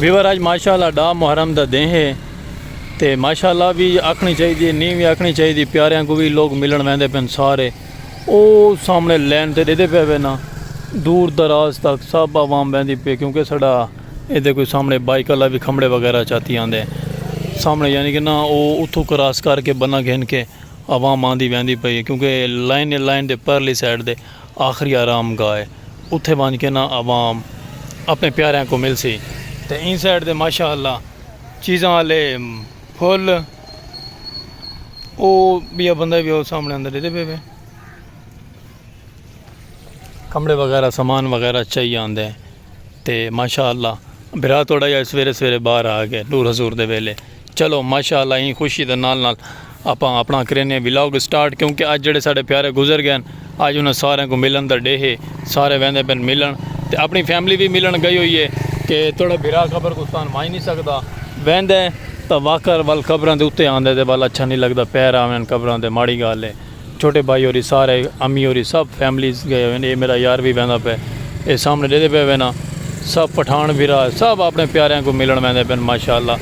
Viewer آج ماشاءاللہ ڈا محرم دا دیں ہے تے ماشاءاللہ بھی آکھنی چاہی دی نیم بھی آکھنی چاہی دی پیاریاں کو بھی لوگ ملن ویندے پن سارے او سامنے لین تے دے دے پہ وینا دور دراز تک سب عوام ویندی پہ کیونکہ سڑا ایندے کوئی سامنے بائیک اللہ بھی کھمڑے وغیرہ چاتی آندے سامنے یعنی کہ نا او اتھو کراس کر کے بنا گھن کے عوام آندی ویندی پئی ہے کیونکہ لائن ہے لائن دے پرلی سائیڈ دے آخری آرام گاہ ہے اتھے وانج کے نا عوام اپنے پیاریاں کو مل سی تے این سائیڈ دے ماشاء اللہ چیزاں آلے پھول او بیا بندہ بھی او سامنے اندر دیتے پہ پہ کمڑے وغیرہ سامان وغیرہ چاہی آندے ہیں تے ماشاء اللہ برا توڑا یا سویرے سویرے باہر آ گئے نور حضور دے ویلے چلو ماشاء اللہ این خوشی دے نال نال آپ اپنا کرینے ولاگ سٹارٹ کیونکہ اج جڑے سارے پیارے گزر گئے اج انہاں سارے کو ملن دا ڈے ہے سارے ویندے پن ملن تے اپنی فیملی بھی ملن گئی ہوئی ہے کہ توڑا برا خبر کو سان مائی نہیں سکدا ویندے تا واکر ول خبراں دے اتے آندے دے ول اچھا نہیں لگدا پیر آوین خبراں دے ماڑی گال ہے چھوٹے بھائی ہوری سارے امی ہوری سب فیملیز گئے ہوئے اے میرا یار وی ویندا پئے اے سامنے ڈیدھے پئے ہوئے نا سب پٹھان بھرا سب اپنے پیاریاں کوں ملن ویندے پئے ماشاءاللہ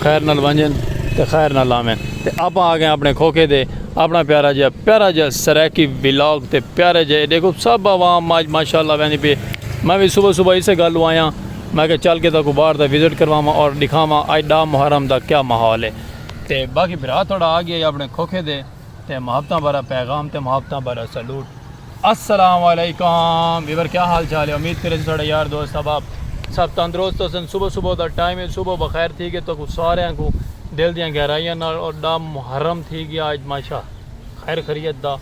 خیر نال ونجن تے خیر نال آون تے آپاں آگئے اپنے کھوکھے دے اپنا پیارا جیا پیارا جیا سرائیکی ولاگ تے پیارے جے ڈیکھو سب عوام آج ماشاءاللہ ویندی پئے میں وی صبح صبح اسے گل لوں آیاں میں کہ چل کے تاکو باہر دا وزٹ کرواواں اور ڈکھاواں آج ڈاہ محرم دا کیا ماحول اے تے باقی بھرا تھوڑا آگئے اپنے کھوکھے دے۔ تے محبتاں بھرا پیغام تے محبتاں بھرا سلوٹ السلام علیکم ویور کیا حال چال ہے امید کرے ساڑے یار دوست احباب سب تندرست ہو سن صبح صبح دا ٹائم ہے صبح بخیر تھی گئے تو سارے کو دل دیاں گہرائیاں نال اور دا محرم تھی گیا اج ماشا خیر خریت دا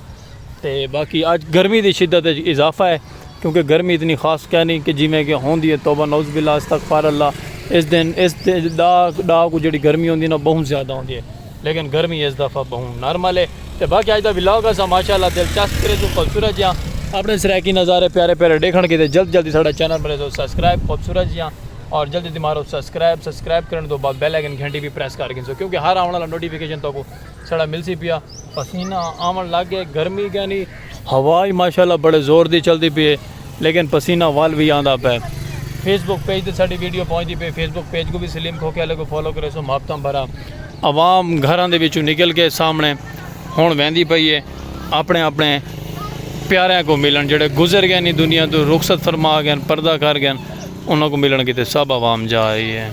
تے باقی اج گرمی دی شدت اضافہ ہے کیونکہ گرمی اتنی خاص کہہ نہیں کہ جی میں کہ ہون دی ہے توبہ نوز باللہ استغفار اللہ اس دن اس دا دا کو جڑی گرمی ہون دی نا بہن زیادہ ہون دی ہے لیکن گرمی ایس دفعہ بہوں نارمل ہے تے باقی اج دا ولاگ اسا ماشاءاللہ دلچسپ کریسوں خوبصورت جیاں اپنے سرائیکی نظارے پیارے پیارے ڈیکھن کیتے جلد جلدی ساڈا چینل مریسو سبسکرائب خوبصورت جیاں اور جلدی جلدی مارو سبسکرائب سبسکرائب کرن توں بعد بیل آئیکن گھنٹی وی پریس کر گھنسو کیونکہ ہر آون والا نوٹیفکیشن تہاکوں ساڈا ملسی پیا پسینہ آون لگ گئے گرمی گئنی ہوا اج ماشاءاللہ بڑے زور دی چلدی پی اے لیکن پسینہ ول وی آندا پے۔ فیس بک پیج تے ساڈی ویڈیو پہنچدی پی اے فیس بک پیج کوں وی سلیم کھوکھے آلے کوں فالو کریسوں محبتاں بھرا عوام گھراں دے وچوں نکل کے سامنے ہن ویندی پئی اے اپنے اپنے پیاریاں کوں ملن جیڑھے گزر گئے نی دنیا توں رخصت فرما گئے ہن پردہ کر گئے ہن انہاں کوں ملن کیتے سب عوام جا رہی اے۔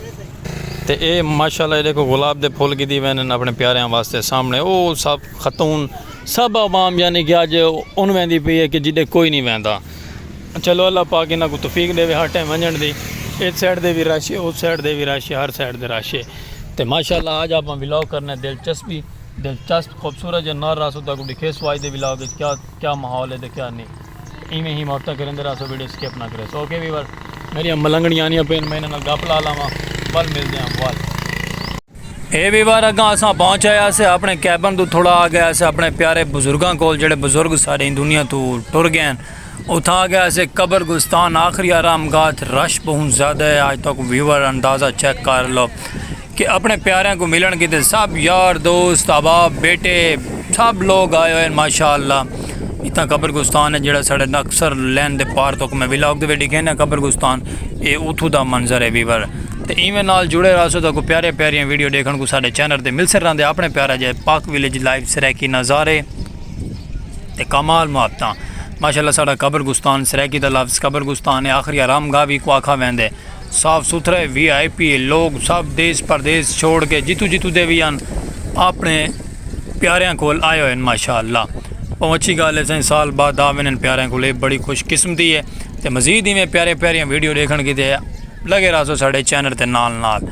تے اے ماشاءاللہ اے ڈیکھو گلاب دے پھل گھدی ویندے ہن اپنے پیاریاں واسطے سامنے او سب خاتون۔ سب عوام یعنی کہ اج ان ویندی پئی ہے کہ جڈے کوئی نہیں ویندا چلو اللہ پاک انہاں کو توفیق ڈیوے ہر ٹائم ونجن دی ایس سائیڈ دے وی رش ہے اس سائیڈ دے وی رش ہے ہر سائیڈ دے رش ہے تے ماشاءاللہ اج آپاں ولاگ کرنے دلچسپی دلچسپ خوبصورت جے نر راسو تاں کو ڈکھے سو اج دے ولاگ وچ کیا کیا ماحول ہے تے کیا نہیں تے ایویں ہی ماوتاں کریندے راسو ویڈیو سکپ نہ کریسو اوکے ویور میری ملنگنی آنیاں پین میں انہاں نال گپ لا لاواں ول ملدے ہیں ول اے وی وار اگاں اساں پہنچ آئے آسے اپنے کیبن توں تھوڑا آ گئے آسے اپنے پیارے بزرگاں کول جڑے بزرگ سارے ایں دنیا توں ٹر گئے ہن اتھاں آ گئے آسے قبر گستان آخری آرام گاہ اتھ رش بہوں زیادہ ہے آج تک ویور اندازہ چیک کر لو کہ اپنے پیاریاں کو ملن کیتے سب یار دوست احباب بیٹے سب لوگ آئے ہوئے ہیں ماشاءاللہ اتھاں قبر گستان ہے جڑا ساڑے اکثر لین دے پار تک میں ولاگ دے ویڈی کہنے قبر گستان اے اتھو دا منظر ہے ویور تے ایویں نال جڑے رہسو تہاکوں پیاریاں پیاریاں ویڈیو ڈیکھن کوں ساڈے چینل تے ملسر رہندے اپنے پیارا جے پاک ویلیج لائیو سرائیکی نظارے تے کمال محبتاں ماشاءاللہ ساڈا قبر گستان سرائیکی دا لفظ قبر گستان ہے آخری آرام گاہ وی کو آکھا ویندے صاف ستھرے وی آئی پی لوگ سب دیس پردیس چھوڑ کے جتوں جتوں دے وی ہن اپنے پیاریاں کول آئے ہوئے ماشاءاللہ بہوں اچھی گال ہے سائیں سال بعد آ وینن پیاریاں کول اے بڑی خوش قسمتی ہے تے مزید ایویں پیارے پیاریاں ویڈیو ڈیکھن کیتے لگے رہسو ساڈے چینل تے نال نال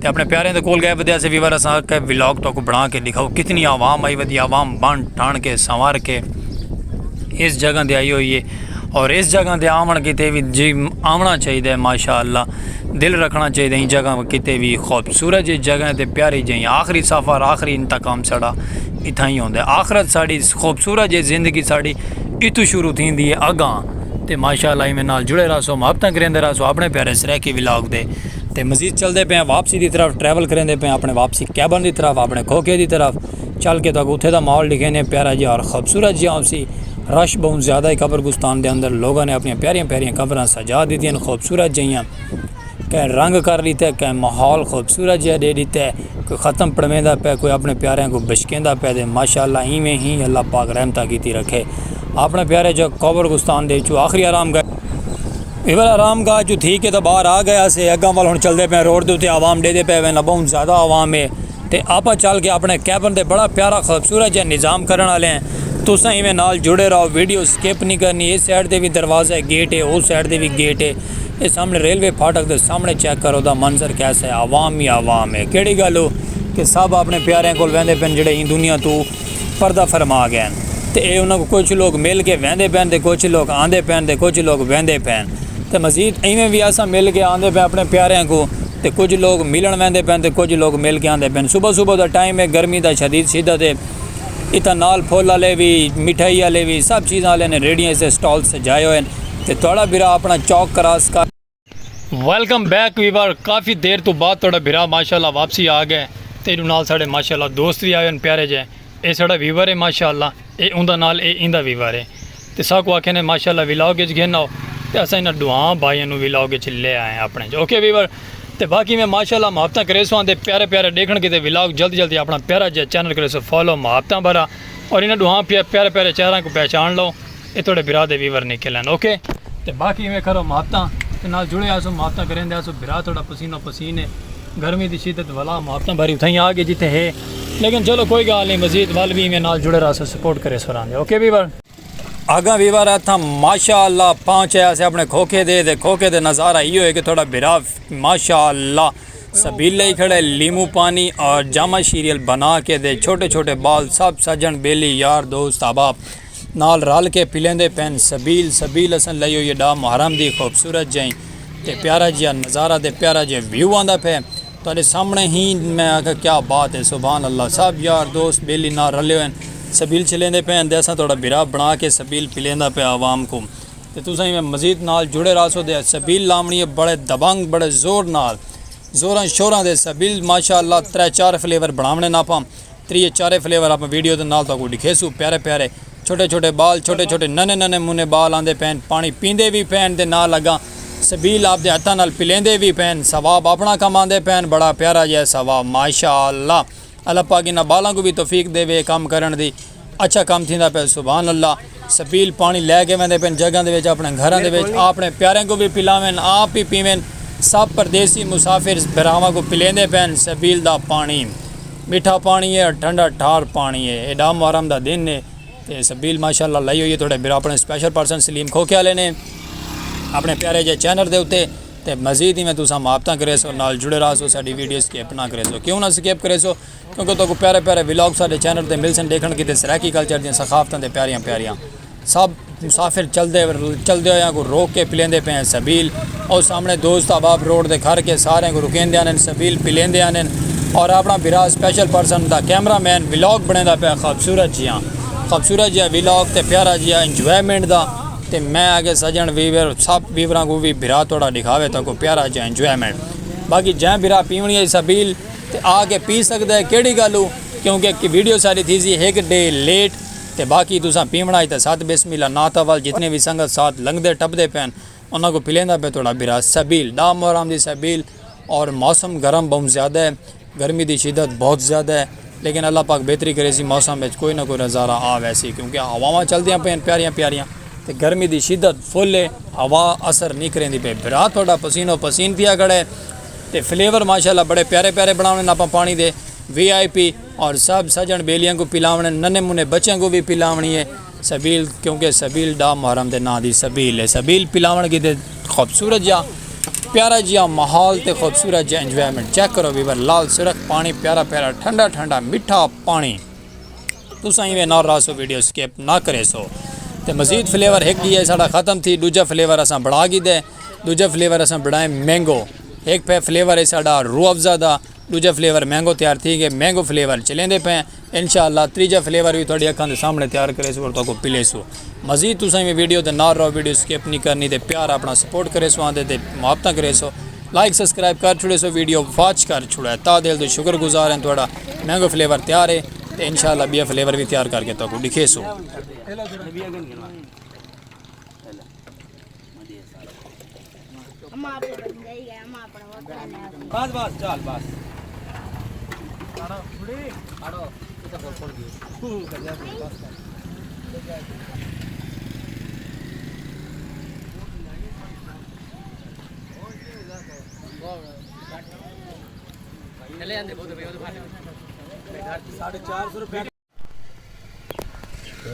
تے اپنے پیاریاں دے کول گئے ودیا سے ویور اساں آکھیا ولاگ تہاکوں بنا کے ڈکھاؤ کتنی عوام آئی ودی عوام بن ٹھن کے سنوار کے اس جگہ دے آئی ہوئی ہے اور اس جگہ دے آون کیتے وی جی آونا چاہیے ہے ماشاءاللہ دل رکھنا چاہیے ہے ان جگہ کیتے وی خوبصورت جی جگہ ہے تے پیاری جی آخری سفر آخری انتقام ساڈا اتھاں ہی ہوندا ہے آخرت ساڈی خوبصورت جی زندگی ساڈی اتھوں شروع تھیندی ہے اگاں تے ماشاء اللہ ایویں نال جڑے رہسو محبتاں کریندے رہسو اپنے پیارے سرائیکی ولاگ دے تے مزید چلدے پئے آں واپسی دی طرف ٹریول کریندے پئے آں اپنے واپسی کیبن دی طرف اپنے کھوکھے دی طرف چل کے تہاکوں اتھے دا ماحول ڈکھیندے آں پیارا جیہا اور خوبصورت جیہا ہوسی رش بہوں زیادہ ہے قبرستان دے اندر لوگاں نے اپنیاں پیاریاں پیاریاں قبراں سجا دتیاں ہن خوبصورت جیہیاں کہیں رنگ کر ݙتا ہے کہیں ماحول خوبصورت جیہا ݙے ݙتا ہے کوئی ختم پڑھویندا پئے کوئی اپنے پیاریاں کوں بچکیندا پئے تے ماشاء اللہ ایویں ہی اللہ پاک رحمتاں کیتی رکھے اپنے پیارے جو قبر گستان دے وچوں آخری آرام گاہ اے ول آرام گاہ جو تھی کے تو باہر آ گئے اسے اگاں ول ہن چلدے پئے روڈ دے اتے عوام ݙے دے پئے ویندہ بہوں زیادہ عوام ہے تے آپاں چل کے اپنے کیبن تے بڑا پیارا خوبصورت جیہا نظام کرݨ آلے ہیں تساں ایویں نال جڑے رہو ویڈیو سکپ نہیں کرنی اے سائیڈ تے وی دروازہ ہے گیٹ ہے او سائیڈ تے وی گیٹ ہے اے سامنڑے ریلوے پھاٹک دے سامنڑے چیک کرو دا منظر کیسا ہے عوام ہی عوام ہے کیڑی گل ہو کہ سب اپنڑے پیاریاں کول ویندے پن جیڑھے ایں دنیا توں پردہ فرما گئے ہن تے اے انہاں کوں کجھ لوک مل کے ویندے پن تے کجھ لوک آندے پن تے کجھ لوک ویندے پن تے مزید ایویں وی اساں مل کے آندے پن اپنڑے پیاریاں کوں تے کجھ لوک ملنڑ ویندے پن تے کجھ لوک مل کے آندے پن صبح صبح دا ٹائم ہے گرمی دا شدید شدت ہے اتھاں نال پھل آلے وی مٹھائی آلے وی سب چیزاں آلے نے ریڑھیاں تے سٹالز سجائے ہوئے ہن۔ تے تہاڈا بھرا اپنا چوک کراس کر ویلکم بیک ویور کافی دیر تو بعد تہاڈا بھرا ماشاءاللہ واپسی آ گئے تے اینو نال ساڈے ماشاءاللہ دوست وی آئے ہن پیارے جے اے ساڈا ویور ہے ماشاءاللہ اے اوندا نال اے ایندا ویور ہے تے ساکو آکھے نے ماشاءاللہ ویلاگ اچ گھن آؤ تے اساں انہاں ڈوہاں بھائیاں نو ویلاگ اچ لے آئے ہیں اپنے اچ اوکے ویور تے باقی میں ماشاءاللہ محبتاں کریسو آندے پیارے پیارے ڈیکھن کیتے ویلاگ جلدی جلدی اپنا پیارا جے چینل کریسو فالو محبتاں بھرا اور انہاں ڈوہاں پیارے پیارے چہراں کو پہچان لو اے تہاڈے بھرا دے ویور نکل ہن اوکے تے باقی ایویں کرو محبتاں تے نال جڑے آسوں محبتاں کریندے آسوں بھرا تہاڈا پسینو پسین اے گرمی دی شدت ولا محبتاں بھری اتھائیں آ گئے جتھے ہے لیکن چلو کوئی گال نی مزید ول وی ایویں نال جڑے راہسو سپورٹ کرے سو راندے اوکے ویور۔ اگاں ویور اتھاں ماشاء اللہ پہنچ اے اسے اپنے کھوکھے دے تے کھوکھے دے نظارہ ایو ہے کہ تہاڈا بھرا ماشاء اللہ سبیل لئی کھڑے لیموں پانی اور جامہ شیریل بنا کے دے چھوٹے چھوٹے بال سب سجن بیلی یار دوست احباب نال رل کے پلیندے پئن سبیل سبیل اساں لئی ہوئی ڈا محرم دی خوبصورت جیں تے پیارا جیا نظارہ تے پیارا جیا ویو آندا پھے تہاڈے سامنے ہی میں آکھا کیا بات ہے سبحان اللہ سب یار دوست بیلی نال رلے ہوئے سبیل چلیندے پئے ہن تے اساں تہاڈا بھرا بنا کے سبیل پلیندا پیا عوام کو تے تساں ایویں مزید نال جڑے رہسو تے سبیل لاونڑی ہے بڑے دبنگ بڑے زور نال زوراں شوراں دے سبیل ماشاءاللہ ترے چار فلیور بناونے ناپاں تریے چارے فلیور آپاں ویڈیو دے نال تہاکوں ڈکھیسوں پیارے پیارے چھوٹے چھوٹے بال چھوٹے چھوٹے ننے ننے منے بال آندے پئن پانی پیندے وی پئن دے نال اگاں سبیل آپدے ہتھاں نال پلیندے وی پئن ثواب آپنڑاں کماندے پئن بڑا پیارا جیہا ثواب ماشاءاللہ اللہ پاک انہاں بالاں کوں وی توفیق دیوے اے کم کرنڑ دی اچھا کم تھیندا پئے سبحان اللہ۔ سبیل پانی لے کے ویندے پن جگاں دے وچ اپنڑے گھراں دے وچ آپنڑے پیاریاں کوں وی پلاون آپ وی پیون سب پردیسی مسافر بھراواں کوں پلیندے پن سبیل دا پانی میٹھا پانی ہے ٹھنڈا ٹھار پانی ہے ایڈا محرم دا دن ہے تے سبیل ماشاءاللہ لائی ہوئی ہے تہاڈے بھرا اپنڑے سپیشل پرسن سلیم کھوکھے والے نے اپنڑے پیارے جے چینل دے اتے تے مزید ہی میں تساں محبتاں کریسو نال جڑے رہسو ساڈی ویڈیوز سکپ نہ کریسو کیوں نہ سکپ کریسو کیونکہ تہاکوں پیارے پیارے ولاگ ساڈے چینل تے ملسن ڈیکھن کیتے سرائیکی کلچر دیاں ثقافتاں تے پیاریاں پیاریاں سب مسافر چلدے چلدے ہویاں کوں روک کے پلیندے پئے ہن سبیل او سامنے دوست احباب روڈ تے کھر کے ساریاں کوں رکیندے آندن سبیل پلیندے آندن اور اپنا بھرا اسپیشل پرسن دا کیمرہ مین ولاگ بنیندا پیا خوبصورت جیاں خوبصورت جیاں ولاگ تے پیارا جیاں انجوائمنٹ دا تے میں اگے سجن ویور سب ویوراں کوں وی بھرا تہاڈا ڈکھاوے تہاکوں پیارا جیاں انجوائمنٹ باقی جئیں بھرا پیونی ہئی سبیل تے آ کے پی سکدا ہے کیڑھی گل ہو کیونکہ کہ ویڈیو ساری تھیسی ہک ڈے لیٹ تے باقی تساں پیونڑا اچ تے ست بسم اللہ نعت اول جتنے وی سنگت ساتھ لنگدے ٹپدے پین انہاں کوں پلیندا پے تہاڈا بھرا سبیل ڈاہ محرم دی سبیل اور موسم گرم بہوں زیادہ ہے گرمی دی شدت بہت زیادہ ہے لیکن اللہ پاک بہتری کریسی موسم اچ کوئی نہ کوئی نظارہ آ ویسی کیونکہ ہواواں چلدیاں پین پیاریاں پیاریاں تے گرمی دی شدت فل ہے ہوا اثر نی کریندی پئی بھرا تہاڈا پسینو پسین تھیا کھڑا ہے۔ تے فلیور ماشاءاللہ بڑے پیارے پیارے بناونڑ آپاں پانی دے وی آئی پی اور سب سجن بیلیاں کوں پلاونڑ ننے منے بچیاں کوں وی پلاونڑی اے سبیل کیونکہ سبیل ڈا محرم دے ناں دی سبیل اے سبیل پلاونڑ کیتے خوبصورت جیا پیارا جیا ماحول تے خوبصورت جیا انجوائمنٹ چیک کرو ویور لال سرخ پانی پیارا پیارا ٹھنڈا ٹھنڈا میٹھا پانی تساں ایویں نہ راہسو ویڈیو اسکپ نہ کریسو تے مزید فلیور ہک ڈی اے ساڈا ختم تھی ڈوجھا فلیور اساں بنڑا گھیدے ڈوجھا فلیور اساں بنڑائے مینگو ہک پے فلیور اے ساڈا روح افزا دا ڈوجھا فلیور مینگو تیار تھی گئے مینگو فلیور چلیندے پے انشاءاللہ تریجھا فلیور وی تہاڈی اکھاں دے سامنے تیار کریسو اور تہاکو پلیسو مزید تساں ایویں ویڈیو تے نال رہو ویڈیو اسکپ نہیں کرنی تے پیار اپنا سپورٹ کریسو آندے تے محبتاں کریسو لائک سبسکرائب کر چھڑیسو ویڈیو واچ کر چھڑے تا دل تو شکر گزار ہیں تہاڈا مینگو فلیور تیار ہے تے انشاءاللہ ٻیا فلیور وی تیار کر کے تہاکوں ݙکھیسوں۔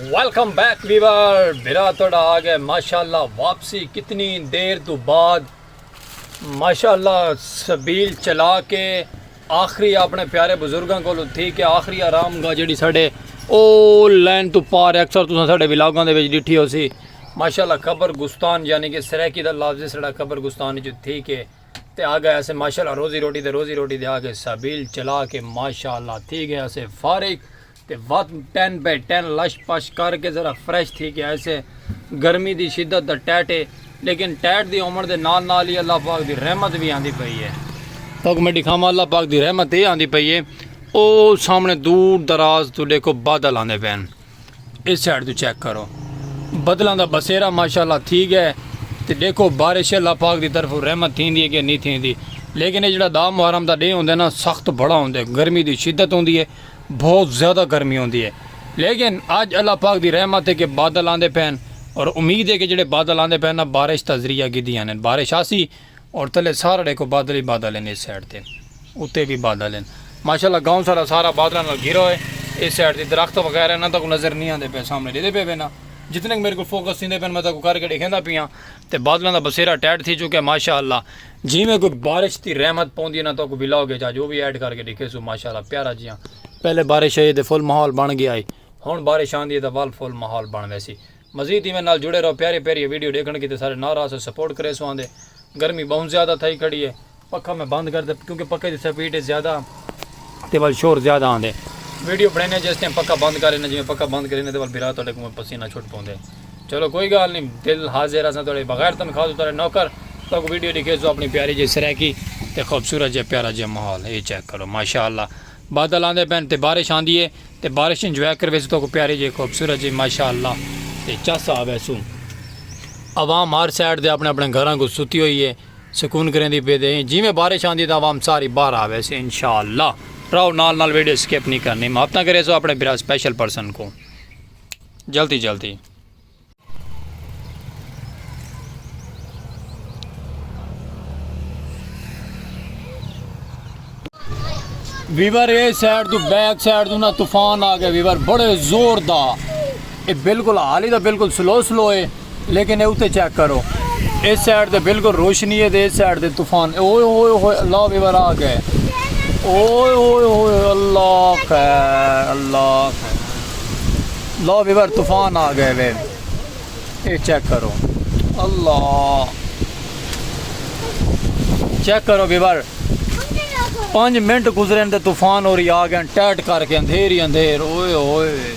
ویلکم بیک ویور برا تھوڑا آ گئے ماشاء اللہ واپسی کتنی دیر تو بعد ماشاء اللہ سبیل چلا کے آخری اپنے پیارے بزرگوں کو تھی کہ آخری آرام گاہ جڑی ساڈے او لین تو پار اکثر تو ساڈے ولاگوں دے وچ ڈٹھی ہو سی ماشاء اللہ قبر گستان یعنی کہ سریکی دا لفظ سڑا قبر گستان جو تھی کہ تے آگئے اسے ماشاءاللہ روزی روٹی تے روزی روٹی دے آگئے سبیل چلا کے ماشاءاللہ تھی گئے اسے فارغ تے وات ٹین بے ٹین لش پش کر کے ذرا فریش تھی گئے اسے گرمی دی شدت دا ٹیٹے لیکن ٹیٹ دی عمر دے نال نال ہی اللہ پاک دی رحمت بھی آندھی پئی ہے تو میں دکھاواں اللہ پاک دی رحمت ہی آندھی پئی ہے او سامنے دور دراز تو دیکھو بادل آندھے پین اس سائیڈ توں چیک کرو بدلاں دا بسیرا ماشاءاللہ تھی گئے تے ڈیکھو بارش اللہ پاک دی طرف رحمت تھیندی ہے کہ نہیں تھیندی لیکن اے جڑا دا محرم دا ڈے ہوندے نا سخت بھڑا ہوندے گرمی دی شدت ہوندی ہے بہت زیادہ گرمی ہوندی ہے لیکن اج اللہ پاک دی رحمت ہے کہ بادل آندے پین اور امید ہے کہ جڑے بادل آندے پین نا بارش تذریہ گدی آنے بارش آسی اور تلے سارا ڈیکھو بادل ہی بادل ہیں اس سائیڈ تے اتے بھی بادل ہیں ماشاءاللہ گاؤں سارا سارا بادلہ نال گھرا ہوئے اس سائیڈ تے درخت وغیرہ نہ تک نظر نہیں آندے پہ سامنے دیدے پہ بینا جتنے میرے کو فوکس دیندے پہ میں تک کر کے دیکھیں دا پیاں تے بادلہ دا بسیرہ ٹیٹ تھی چکے ماشاءاللہ جی میں کوئی بارش تی رحمت پون دینا تک بلاو گے جا جو بھی ایڈ کر کے دیکھے سو ماشاءاللہ پیارا جیاں پہلے بارش ہے یہ دے فل محول بن گیا ہے ہون بارش آن دیئے دا وال فل محول بن ویسی مزید ایویں نال جڑے رہو پیاری پیاری ویڈیو ڈیکھن کیتے سارے نال رہسو سپورٹ کریسو آندے گرمی بہوں زیادہ تھئی کھڑی ہے پکھا میں بند کر تے کیونکہ پکھے دی سپیڈ ہے زیادہ تے ول شور زیادہ آندے ویڈیو بنینے جس ٹائم پکھا بند کرینے جویں پکھا بند کرینے تے ول بھرا تہاڈے کوں پسینہ چھٹ پوندے چلو کوئی گال نی دل حاضر اساں تہاڈے بغیر تنخواہ تو تہاڈے نوکر تہاڈے کوں ویڈیو ڈیکھیسو اپنی پیاری جئی سرائیکی تے خوبصورت جیا پیارا جیا ماحول ہے اے چیک کرو ماشاءاللہ بادل آندے پین تے بارش آندی ہے۔ تے بارش انجوائے کرویسوں تہاکوں پیاری جی خوبصورت جی ماشاءاللہ تے چس آ ویسوں عوام ہر سائیڈ دے اپنے اپنے گھراں کوں ستی ہوئی ہے سکون کریندی پئی تے جیویں بارش آندی تاں عوام ساری باہر آ ویسی انشاءاللہ راہو نال نال ویڈیو سکپ نہیں کرنی محبتاں کریسو اپنے بھرا سپیشل پرسن کوں جلدی جلدی ویور اے سائیڈ تو بیک سائیڈ تو نا طوفان آ گیا ویور بڑے زور دا اے بالکل حالی دا بالکل سلو سلو اے لیکن اے اوتے چیک کرو اے سائیڈ دے بالکل روشنی اے دے سائیڈ دے طوفان اوئے اوئے اوئے اللہ ویور آ گئے اوئے اوئے اوئے اللہ خیر اللہ خیر لا ویور طوفان آ گئے وے اے چیک کرو اللہ چیک کرو ویور پانچ منٹ گزرے تے طوفان اور آ گئے ٹیٹ کر کے اندھیر ہی اندھیر اوئے اوئے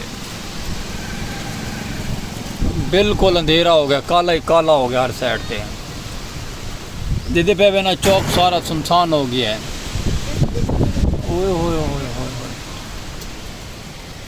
بالکل اندھیرا ہو گیا کالا ہی کالا ہو گیا ہر سائڈ تے جدے پہ بنا چوک سارا سنسان ہو گیا ہے اوئے ہوئے ہوئے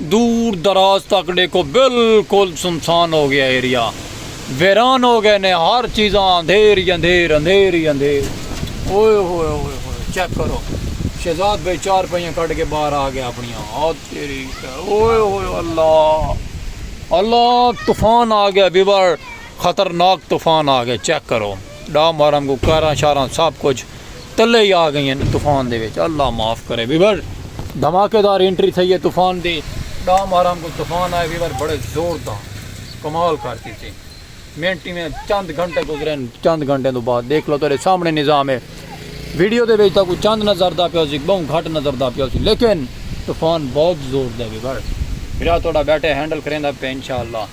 دور دراز تک ڈیکھو بالکل سنسان ہو گیا ایریا ویران ہو گئے نے ہر چیزاں اندھیر ہی اندھیر اندھیر ہی اندھیر اوئے ہوئے ہوئے ہوئے چیک کرو شہزاد بھائی چار پائیاں کٹ کے باہر آ گیا اپنی آ تیری اوئے ہوئے اللہ اللہ طوفان آ گیا بیور خطرناک طوفان آ گیا چیک کرو ڈا مارم کو کاراں شاراں سب کچھ تلے ہی آ گئین طوفان دے وچ اللہ معاف کرے ویور دھماکے دار انٹری تھئی ہے طوفان دی ڈا مارام کو طوفان آئے ویور بڑے زور دا کمال کر دیتے منٹ میں چند گھنٹے گزرے چند گھنٹے تو بعد دیکھ لو تیرے سامنے نظام ہے ویڈیو دے وچ کوئی چند نظر دا پیا سی بہوں گھٹ نظر دا پیا سی لیکن طوفان بہت زور دا ویور میرا تھوڑا بیٹھے ہینڈل کریں دا پہ انشاءاللہ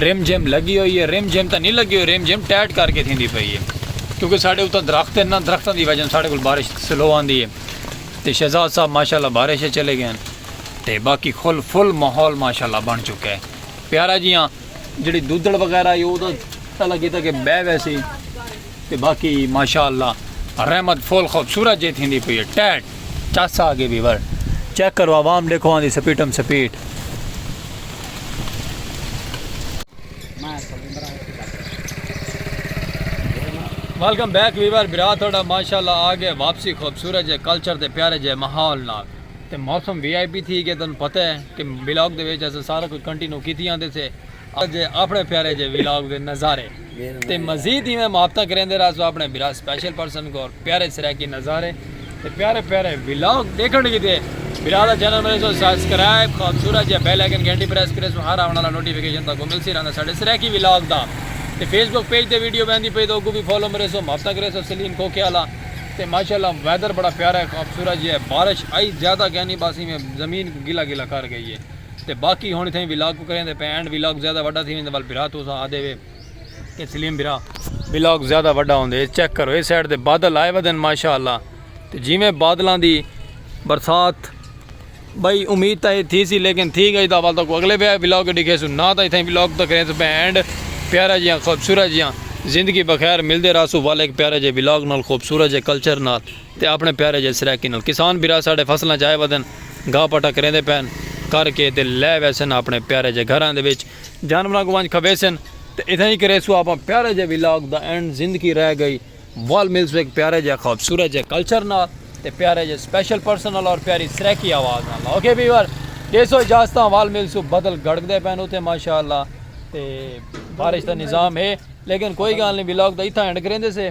رم جھم لگی ہوئی ہے رم جھم تاں نہیں لگی ہوئی رم جھم ٹیٹ کر کے تھیندی پئی ہے کیونکہ ساڈے اتھاں درخت ہیں نا درختاں دی وجہ ساڈے کول بارش سلو آندی ہے تے شہزاد صاحب ماشاءاللہ بارش اچ چلے گئے تے باقی کھل فل ماحول ماشاءاللہ بن چکا ہے پیارا جیاں جڑی دودڑ وغیرہ ہے او تاں اللہ کیتا کہ بہہ ویسی تے باقی ماشاء اللہ رحمت فول خوبصورت جے تھیندی پئی ہے ٹیٹ چس آ گئے بھی ور چیک کرو عوام دیکھو آندی سپیٹم سپیٹ ویلکم بیک ویور برا تھوڑا ماشاءاللہ آ گئے واپسی خوبصورت جے کلچر تے پیارے جے ماحول نال تے موسم وی آئی پی تھی گئے تن پتہ ہے کہ بلاگ دے وچ اساں سارا کچھ کنٹینیو کیتی آندے سے اجے اپنڑے پیارے جے ویلاگ دے نظارے تے مزید ایویں محبتاں کریندے رہسو اپنڑے بھرا سپیشل پرسن کول پیارے سرائیکی نظارے تے پیارے پیارے ویلاگ ڈیکھنڑ کیتے بھرا دا چینل بنڑے سو سبسکرائب خوبصورت جے بیل آئیکن گھنٹی پریس کرے سو ہر آونڑ والا نوٹیفیکیشن تاکو ملسی رہندا ساڈے سرائیکی ویلاگ دا تے فیس بک پیج تے ویڈیو ویندی پئی تے اوکو وی فالو مرے سو محبتاں کرے سو سلیم کھوکھے والا تے ماشاءاللہ ویدر بڑا پیارا ہے خوبصورت جے بارش آئی زیادہ کینی بس ایویں زمین گلا گلا کر گئی ہے تے باقی ہن اتھاں ولاگ کوں کریندے پئے اینڈ ولاگ زیادہ وڈا تھی ویندے ول بھرا توساں آدے وے کہ سلیم بھرا ولاگ زیادہ وڈا ہوندے اے چیک کرو اے سائیڈ تے بادل آئے ودن ماشاءاللہ تے جیویں بادلاں دی برسات بھئی امید تاں اے تھی سی لیکن تھی گئی دا ول تاں کو اگلے ولاگ ڈکھیسوں نا تاں اتھاں ولاگ تاں کریندے پئے اینڈ پیارا جیاں خوبصورت جیاں زندگی بخیر ملدے راسوں ول ایک پیارا جے ولاگ نال خوبصورت جے کلچر نال۔ تے آپݨے پیارے جیہے سرائیکی نال کسان بھرا ساݙے فصلاں چ آئے ودن، گھاہ پٹا کریندے پئن، کر کے تے لے ویسن آپݨے پیارے جیہے گھراں دے وچ، جانوراں کوں ونڄ کھویسن تے اتھاں ای کریسوں آپݨ پیارے جیہے ولاگ دا اینڈ زندگی رہ گئی ول ملسوں ہک پیارے جیہے خوبصورت جیہے کلچر نال تے پیارے جیہے سپیشل پرسن نال اور پیاری سرائیکی آواز نال اوکے ویور ݙیسو اجازتاں ول ملسوں بدل گڑکدے پئن اتھے ماشاءاللہ تے بارش دا نظام ہے لیکن کوئی گالھ نی ولاگ دا اتھاں اینڈ کریندے سے۔